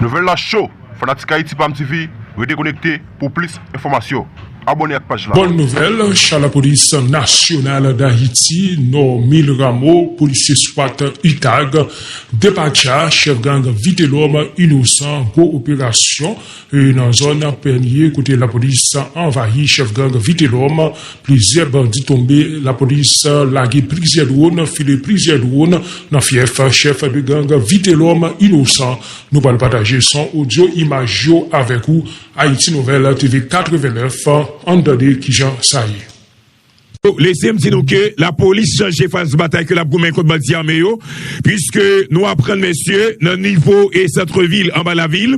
Nouvèl la cho! Fanatik Ayiti pam TV rete konekte pou plis enfòmasyon. Abòne ak paj la. Bòn nouvèl, cha lapolis nasyonal Dayiti Normil Rameau, polisye swat utag, depatcha chèf gang Vitelòm inosan gwo operasyon. Nan zòn Pènye kote lapolis anvayi chèf gang Vitelòm, plizyè bandi tonbe, lapolis lage plizyè dwòn, file plizyè dwòn nan fyèf chèf de gang Vitelòm Inosan. Nou pral pataje son, odyo, imaj yo avèk ou, Haïti Nouvelle TV 89, ann tande kijan sa ye. Lese m di nou ke lapolis chanje faz batay ke l ap goumen kont bandi ame yo, puiske nou aprann mesye nan nivo e santre vil anba lavil,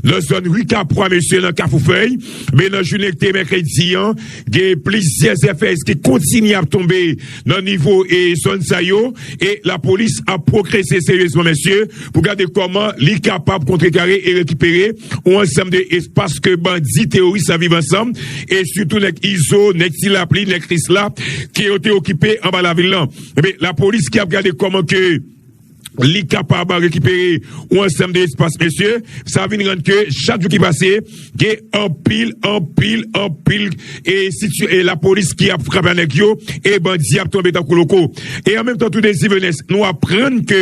nan zòn ri Kapwa mesye nan Kafou Fèy, men nan jounen ki te mèkredi an, gen plizyè zèfèz ki kontinye ap tonbe nan nivo e zòn sa yo e lapolis ap pwogrese seryezman mesye. pou gade kòman li kapab kontrekare e rekipere yon ansanm de espas ke bandi teworis la viv ansanm, e sitou nèg Izo, nèg Ti Lapli, nèg Krisla, ke yo te okipe anba lavil lan. Enben, lapolis ki ap gade kòman ke li kapab rekipere yon ansanm de espas, mesye, sa vin rann ke chak jou ki pase, gen anpil, anpil, anpil, e situ, e lapolis ki ap frape a nèg yo, e bandi ap tonbe tankou loko. E an menm tan tou Dezi Venès, nou aprann ke.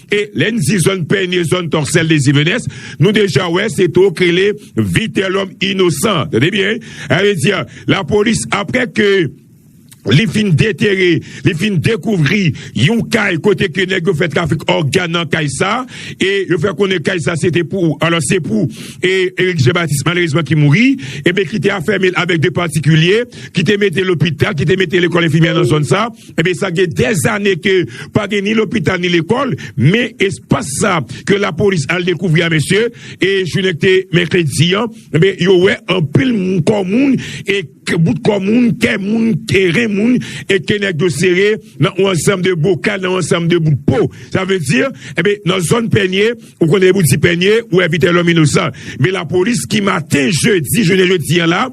E lè n di zòn Pènye, zòn Tòksèl, Dezivenes, nou deja wè se to k rele Vitelòm Inosan. Tande byen wi. Sa vle di lapolis aprè ke li fin detere, li fin dekouvri yon kay kote ke nèg yo fè trafik ògàn nan kay sa e yo fè konnen kay sa se te pou, alò se pou Erik Jean Baptiste malerezman ki mouri e ki te afème l avèk 2 patikilye ki te mete lopital, ki te mete lekòl enfimyè nan zòn sa. Ebyen sa gen dèzane ke pa gen ni lopital ni lekòl, men espas sa ke lapolis al dekouvri a mesye, e jounen ki te mèkredi an, ebyen yo wè anpil kò moun, e bout kò moun, kè moun, e ren moun, e ke nèg yo sere nan yon ansanm de bokal, nan yon ansanm de bout po. Sa vle di, ebyen nan zòn Pènye, ou konnen lè ou di Pènye, ou wè Vitelòm Inosan. Men lapolis ki maten jedi, jounen jodi an la,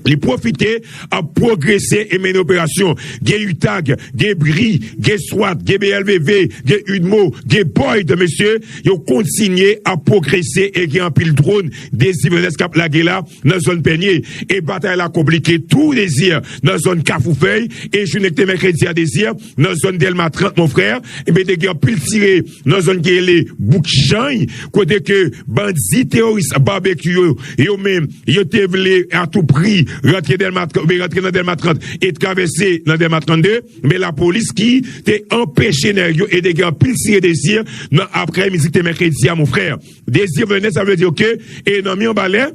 Li pwofite ap pwogrese e mennen operasyon. Gen utag, gen bri, gen swat, gen BLVV, gen udmo, gen boyd mesye, yo kontinye ap pwogrese e gen anpil dron de Sivenes k ap lage la nan zòn Pènye. E batay la konplike tou Dezi nan zòn Kafou Fèy e jounen k te mèkredi a Dezi nan zòn Dèlma 30 Monfrè te gen anpil tire. nan zòn ki rele Bouk Jany, kote ke bandi teworis Barbecue yo, yo menm, yo te vle a tou pri rantre Dèlma 30, oubyen rantre nan Dèlma 30 e travèse nan Dèlma 32, men lapolis ki te anpeche nèg yo e te gen anpil tire dezi nan aprè midi ki te mèkredi a mon frè. Dezi vlè nèt sa vle di ke e nan mi anba lè.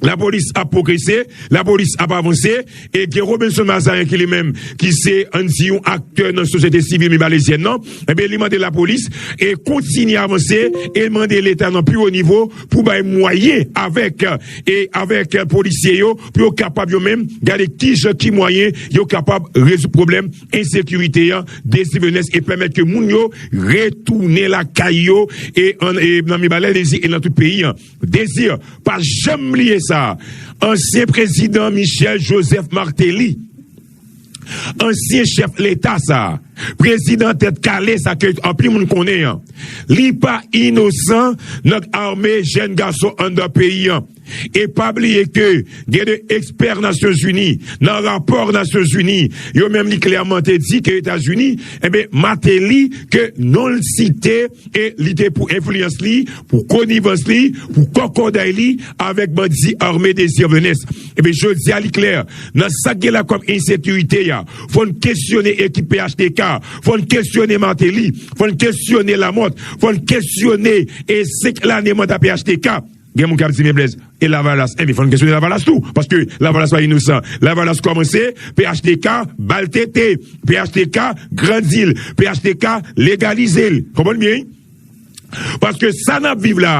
La polis ap pwogrese, la polis ap avanse, e gen Robinson Mazarin ki li menm ki se ann di yon aktè nan sosyete sivil mibalezyèn nan, enben li mande la polis e kontinye avanse e mande leta nan pi wo nivo pou bay mwayen avèk e avèk polisye yo pou yo kapab yo menm gade kijan ki mwayen yo kapab rezoud pwoblèm ensekirite an desivènes e pèmèt ke moun yo retounen lakay yo e nan mibalèlezi e nan tout peyi an. Désir pa janm bliye sa, ansyen prezidan Michel Joseph Martelly, ansyen chèf leta sa, prezidan tèt kale sa ke anpil moun konnen an, li pa inosan nan ame jèn gason anndan peyi an. E pa bliye ke gen 2 ekspè Nasyon Zini nan rapò Nasyon Zini yo menm li klèman te di ke Etazini, enben Martelly ke non l site, E li te pou enfliyans li, pou konivans li, pou kòkòday li avèk bandi ame Désir Venens. Ebyen jodi a li klè, nan sa k gen la kòm ensekirite a, fò n kesyone ekip phtk, fò n kesyone Martelly, fò n kesyone Lamothe, fò n kesyone 5 lane manda phtk. Gen moun kap di men Blaise e lavalas enben fòn kesyone lavalas tou paske lavalas pa inosan lavalas kòmanse phtk bal tete phtk grandil phtk legalizel konprann byen wi paske sa nap viv la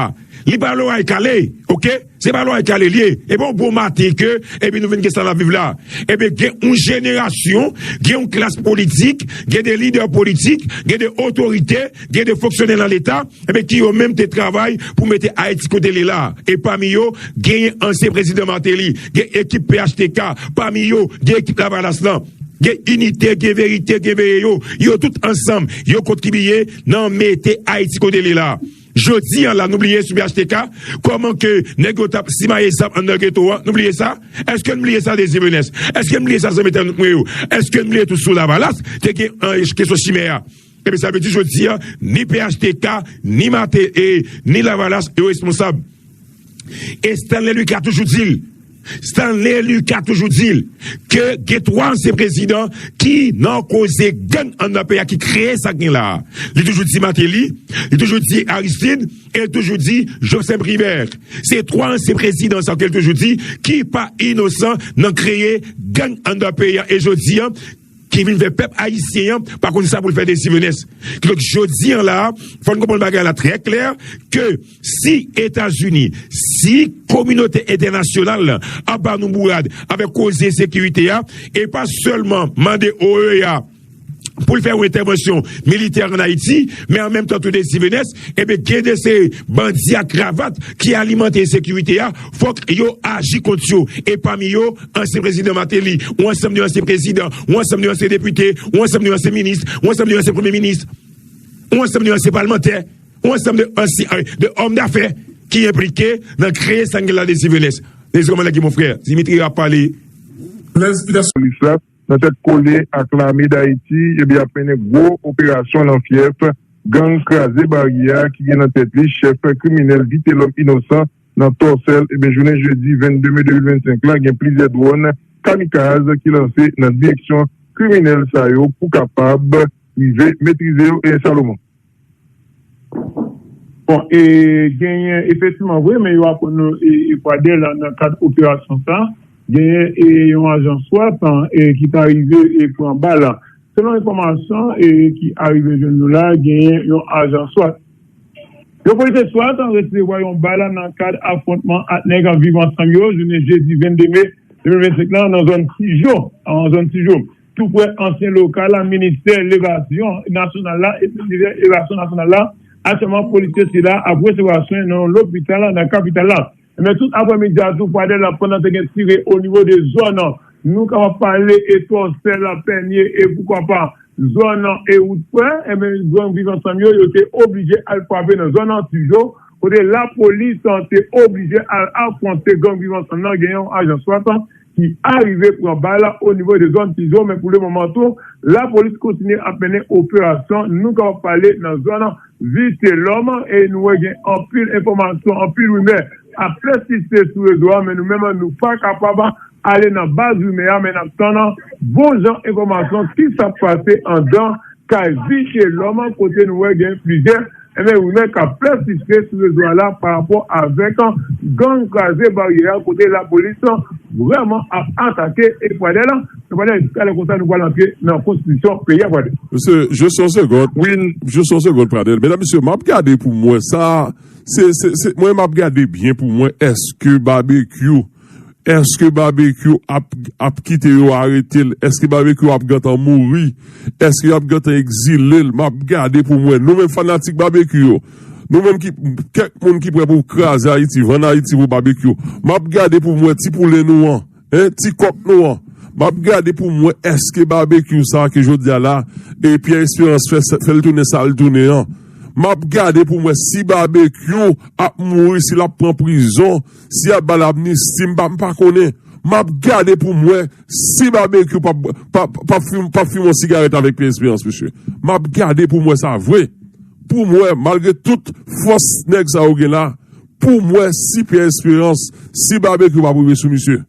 li pa loray kale ok se pa loray kale liye e pa yon bon maten ke epi nou vin gen sa nap viv la enben gen yon jenerasyon gen yon klas politik gen de lidè politik gen de otorite Gen de fonksyonè nan leta eh ki yo menm te travay pou mete Ayiti kote li la a. E pami yo, genyen ansyen prezidan Martelly, gen ekip phtk, pami yo, gen ekip Lavalas lan. Gen inite, gen verite, gen veye yo. Yo tout ansanm, yo kontribiye nan mete Ayiti kote li la a. Jodi an la, nou bliye sou phtk? Kòman ke nèg yo t ap simaye zam anndan geto an? Nou bliye sa? Èske n bliye sa Désir Menès? Èske n bliye sa zanmi tann nou yo? Èske n bliye tou sou Lavalas te gen kesyon chimè a? Ebyen sa vle di jodi a ni phtk, ni Marthe e ni Lavalas yo responsab. E Stanley Lucas toujou di l, Stanley Lucas toujou di l ke gen 3 ansyen prezidan ki nan koze gang anndan peyi a ki kreye sa k gen la a. Li toujou di Martelly, li toujou di Aristide e li toujou di Jocehm Privert. Se 3 ansyen prezidan sa yo ke li toujou di ki pa inosan nan kreye gang anndan peyi a e jodi a. Ki vin fè pèp ayisyen an pa konn sa pou l fè de Sivenes. Ki donk jodi an la, fò n konprann bagay la trè klè, ke si Etazini, si kominote entènasyonal la ap ba nou bourad avèk koze sekirite a, e pa sèlman mande OEA pou l fè yon entèvansyon militè an Ayiti, men an menm tan tou de Sivenes, enben gen de se bandi a kravat ki alimante ensekirite a, fòk yo aji kont yo. E pami yo. ansyen prezidan Martelly, yon ansanm de ansyen prezidan, yon ansanm de ansyen depite, yon ansanm de ansyen minis, yon ansanm de ansyen premye minis, yon ansanm de ansyen palmantè, yon ansanm de ansyen de òm dafè ki enplike nan kreye sa n gen la de Sivenes. Mezi kòman lage monfrè Dimitri ap pale. Prezpitasyon Lisrap nan tèt kole ak lame Dayiti ebyen ap mennen gwo operasyon nan fyèf gang Kraze Baryè a ki gen nan tèt li chèf kriminèl Vitelòm Inosan Nan Tòsèl, ebyen jounen jedi 22 me 2025 la gen plizyè dwòn kamikaz ki lanse nan direksyon kriminèl sa yo pou kapab rive metrize yo e Salomon. Bon e genyen efektiman vre men yo aprann nou e Pradel nan kad operasyon sa genyen e yon ajan swat e ki ta rive e pran bal. Selon enfòmasyon e ki arive jwenn nou la genyen yon ajan swat. Yo pote swat resevwa yon bal nan kad afwontman ak nèg ap viv ansanm yo jounen jedi 22 me 2025 lan nan zòn Tijo, zone Tijo, tou prè ansyen lokal ministè levasyon nasyonal la, ministè levasyon nasyonal la. Aktyèlman polisye sila ap resevwa swen nan yon lopital nan kapital la. Men tout aprè midi a tou fwadè la pandan te gen tire o nivo de zòn nou kapab pale Etwonsè, Lapènye e poukwa pa zòn Ewout Frè enben gang Viv Ansanm yo yo te oblije al frape nan zòn Antijo kote lapolis te oblije al afwonte gang Viv Ansanm nan gen yon ajan 60 ki arive pran bal o nivo de zòn Tizon men pou le moman tou la polis kontinye ap mennen operasyon nou kapab pale nan zòn Vitelòm e nou wè gen anpil enfòmasyon anpil rimè ap pèsiste sou rezo a men nou menm nou pa kapab ale nan baz rimè a men n ap tann bon jan enfòmasyon kisa k pase andan kay Vitelòm kote nou wè gen plizyè Ebyen wi men kap pèsiste sou rezo a la pa rapò avèk gang kraze baryè a kote lapolis vrèman ap atake e fradè la e fradè jiska lè konsa nou pral antre nan konstitisyon peyi a fradè. Mesye just yon segond wi just yon segond fradè medam mesye map gade poum wè sa se se se mwen map gade byen poum wè eske babekyou Eske babekyou ap kite yo aretel eske babekyou ap gentan mouri eske yap gentan egzilel map gade poum wè nou menm fanatik babekyou yo nou menm ki kèk moun ki prè pou kraze ayiti vann ayiti pou babekyou map gade poum wè ti poulen nou an hein ti kòk nou an map gade poum wè eske babekyou sa ke jodia la e pyè esperans fè fèl tounen sal tounen an map gade poum wè si babekyou ap mouri si lap pran prizon. Si yap bal amnisti m pa m pa konnen. Map gade pou m wè si Babekyou pap fimen yon sigarèt avèk Pierre Espérance mesye. Map gade pou m wè sa vre. Pou m wè malgre tout fòs nèg sa yo gen la pou m wè si Pierre Espérance, si Babekyou pap rive sou misye.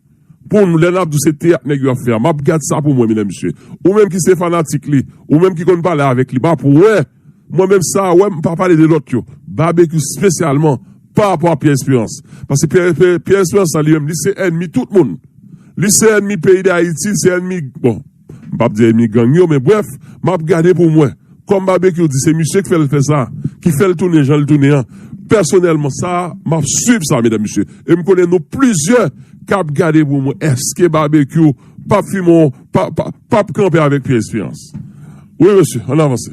Pou m lè nap di se teyat nèg yo ap fè a map gad sa pou mwen menm mesye ou menm ki se fanatik li ou menm ki konn pale avèk li map wè mwen menm sa a wè m pa pale de lòt yo Babekyou spesyalman pa rapò a Pierre Espérance paske Pierre Espérance la li menm li se ènmi tout moun li se ènmi peyi dayiti li se ènmi bon. M pap di ènmi gang yo men brèf m ap gade pou m wè. Kòm Babekyou di se misye k fè l fè sa, ki fè l tounen jan l tounen an, pèsonèlman sa m ap swiv sa medam mesye e m konnen nou plizyè k ap gade pou m wè èske Babekyou p ap fime yon pa p ap kanpe avèk Pyè Esperans. Wi mesye, ann avanse.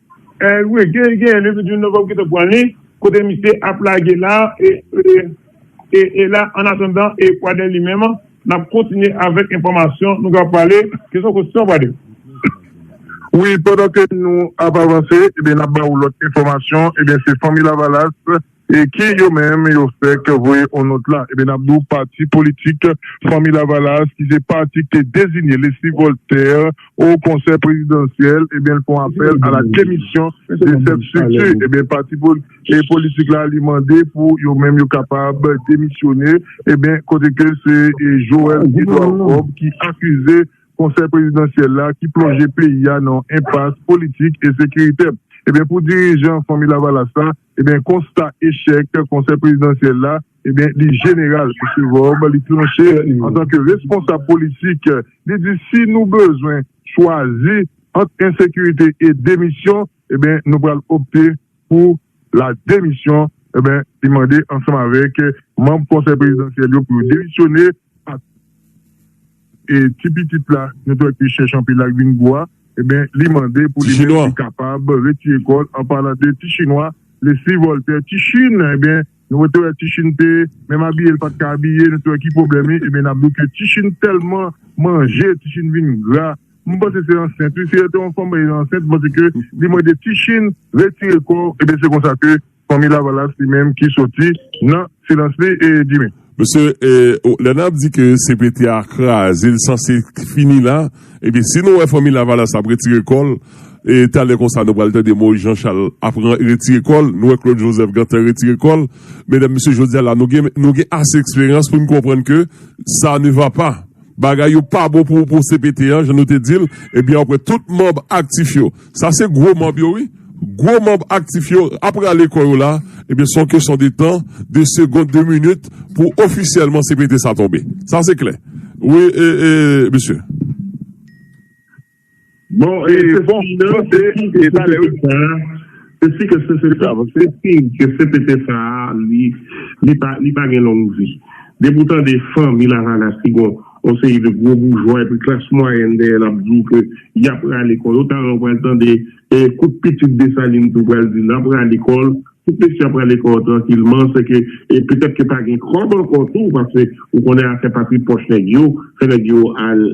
Wi gen gen le 28 novem ki te pran li kote misye ap lage la e la an atandan e pwadè li menm nap kontinye avek enfomasyon nou ka pale ke son kosyon pwadè. Wi pandan ke nou ap avanse ebyen nap ba ou lot enfomasyon ebyen se fanmi lavalas. E ki yo menm yo fèk voye on nòt la. Ebyen nap di w pati politik Fanmi Lavalas ki se pati ki te dezinye Leslie Voltaire o konsèy prezidansyèl ebyen l fon apèl a la demisyon de sèt strikti. Ebyen pati politik la li mande pou yo menm yo kapab demisyone ebyen kote ke se Joel Edouard Fob ki akize konsèy prezidansyèl la ki plonje peyi a nan enpas politik e sekiritè. Ebyen pou dirijan Fanmi Lavalas la Ebyen konsta echèk konsèy prezidansyèl la ebyen li jeneral Mesye Vorbe li tranche antanke responsab politik li di si nou bezwen chwazi ant ensekirite e demisyon ebyen nou pral opte pou la demisyon ebyen li mande ansanm avèk manb konsèy prezidansyèl yo pou yo demisyone ak ti pitit la nou t wè ki chèch anpil la k vin gwo a enben li mande pou li menm li kapab retire kò l an palan de ti chinwa Leslie Voltaire ti chin enben nou te wè ti chin te menm abiye l pa t ka abiye nou te wè ki pwoblèm li enben n ap di w ke ti chin tèlman manje ti chin vin gra m panse se ansent wi si yo te yon fanm ansent m panse ke li mande ti chin retire kò w enben se konsa ke. Fanmi lavalas li menm ki soti nan silans li Jimmy. Mesye lè nap di ke cpt a kraze li sanse fini la ebyen si nou wè fanmi lavalas ap retire kòl talè konsa nou pral tande Moïse Jean Charles ap retire kòl nou wè Claude Joseph gentan retire kòl medam mesye jodia la nou gen nou gen ase eksperyans poun konprann ke sa ne va pa bagay yo pa bon pou cpt an jan nou te dil ebyen wap wè tout manb aktif yo. Sa se gwo manb yo wi. Gwo manb aktif yo ap rale kò yo la, ebyen se yon kesyon de tan, de segond, de minit pou ofisyèlman cpt sa tonbe. Sa se klè. Wi mesye. Bon e se si ke cpt sa a, se si ke cpt sa a li pa gen long vi. Depi ou tande fanmi lavalas ki gon. Yon seri de gwo boujwa epi klas mwayèn dèyè l ap di w ke y ap rale kò yo. Talè w pral tande koup pitit Desalin tou pral di l ap rale kò l. Tout mesye ap rale kò yo trankilman. Sèke petèt ke pa gen kòb ankò tou paske ou konnen afè pa tri pòch nèg yo fè nèg yo al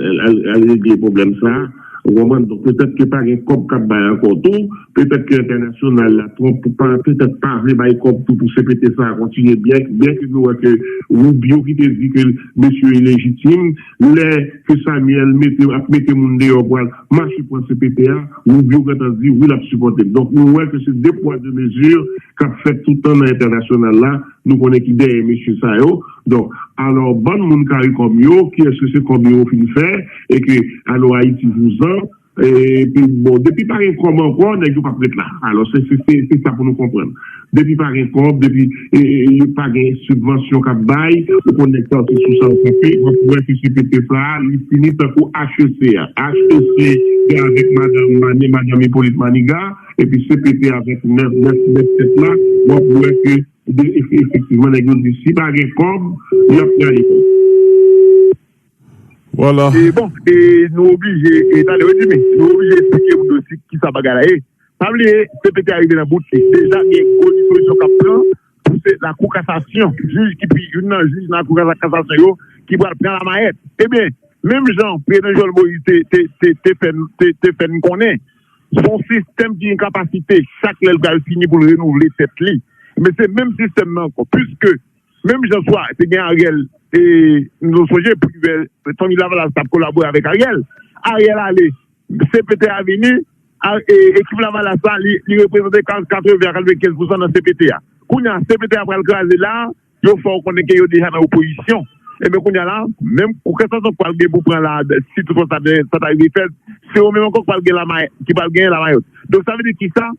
regle pwoblèm sa a. Ou konprann? Donk petèt ke pa gen kòb k ap bay ankò tou. Petèt ke entènasyonal la twòp pou pa petèt pa vle bay kòb tou pou cpt sa a kontinye byen ke nou wè ke Rubio ki te di ke mesye yo ilejitim lè ke Samuel mete ap mete moun deyò pou al mache pran cpt a Rubio gentan di wi lap sipòte l donk nou wè ke se 2 pwa 2 mezi kap fèt toutan nan entènasyonal la nou konnen ki dèyè mesye sa yo donk alò bann moun caricom yo kiyès ke se kòb yo fin fè e ke alò Ayiti vouzan. Epi bon depi pa gen kòb ankò nèg yo pap ret la alò se se sa pou nou konprann depi pa gen kòb depi yo pa gen sibvansyon kap bay ou konn nèg sa yo se sou sa yo kanpe wap wè ke cpt sa li fini tankou HEC a HEC se avèk madanm mani madanm Hyppolite Maniga epi cpt avèk 9 9 tèt la wap wè ke efektivman nèg yo di si pa gen kòb yap prale. Wala. E bon, e nou oblije, e tande wi Jimmy, nou oblije esplike moun yo si kisa bagay la ye. Pa bliye cpt a rive nan bout li. Deja gen gwo dispozisyon k ap pran pou se lakou kasasyon, jij ki pi youn nan jij nan lakou kasasyon yo ki pral pran lamayèt. Ebyen, menm jan prezidan Jovenel Moïse te te fè n konnen, se yon sistèm ki gen kapasite chak lè l pral fini pou l renouvle tèt li. Ebyen se menm sistèm nan ankò. Piske Menm jan swa te gen Ariel e nou sonje Privert fanmi lavalas tap kolabore avèk Ariel. Ariel ale CPT a vini e ekip lavalas la li reprezante 80 a 95 pousan nan CPT a. Kounye a CPT a pral kraze la yo fè w konnen ke yo deja nan opozisyon. Enben kounye a la menm kòkèsanson k pral gen pou pran la si toutfwa sa ta rive fèt se yo menm ankò k pral gen lamayòt. Donk sa vle di kisa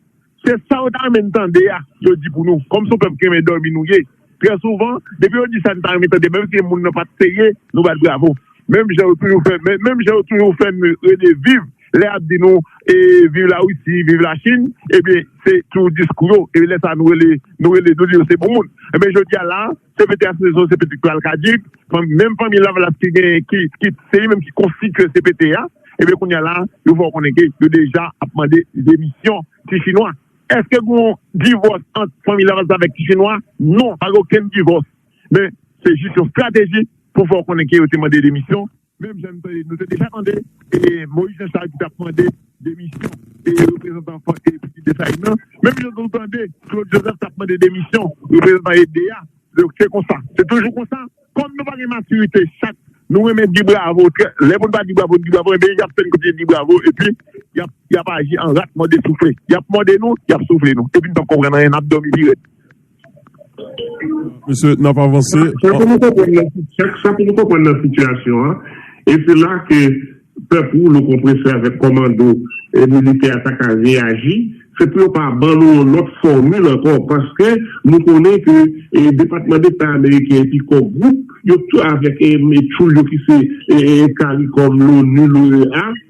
Se sa yo ta renmen n tande a yo di pou nou. Kòm se yon pèp ki renmen dòmi nou ye, trè souvan, depi yo di sa n ta renmen tande menm si moun nan pa t serye, nou bat bravo. Menm jan yo toujou fè men, menm jan yo toujou fè n rele viv lè y ap di nou viv Larisi, viv Lachin, ebyen se toujou diskou yo. E lè sa a nou rele, nou rele, nou di yo se bon moun. Ebyen jodi a la a. CPT a se yon CPT ki al kaduk, menm fanmi Lavalas ki gen, ki se li menm ki konstitye CPT a, ebyen kounya la yo fè w konnen ke yo deja ap mande demisyon ti chinwa. Eske gen yon divòs ant fanmi Lavalas avèk ti chinwa? Non, pa gen okenn divòs. Men, se jis yon strateji pou fè w konnen ke yo te mande demisyon. Menm jan nou te deja tande Moyiz Janchal ki t ap mande demisyon reprezantan Fòk e Pitit Desalin nan, menm jan nou tande Klod Jozèf t ap mande demisyon reprezantan ede a. Donk, se konsa. Se toujou konsa. Kòm nou pa gen matirite, chak nou renmen di bravo, trè, lè pou n pa di bravo, n di bravo, enben y ap fè n kontinye di bravo epi y ap y ap aji an rat mòde soufle. Y ap mòde nou, y ap soufle nou epi n p ap konprann anyen, n ap dòmi pi rèd. Mesye, n ap avanse. Sa pou nou konprann nan sitiyasyon an, e se la ke pèp woulo konpresè avèk kòmando militè a ta ka reyaji, se pou yo pa ban nou yon lòt fòmil ankò, paske nou konnen ke Depatman Deta Ameriken epi Kò Gwoup yo tou avèk tchoul yo ki se caricom, l'ONU, l'OEA,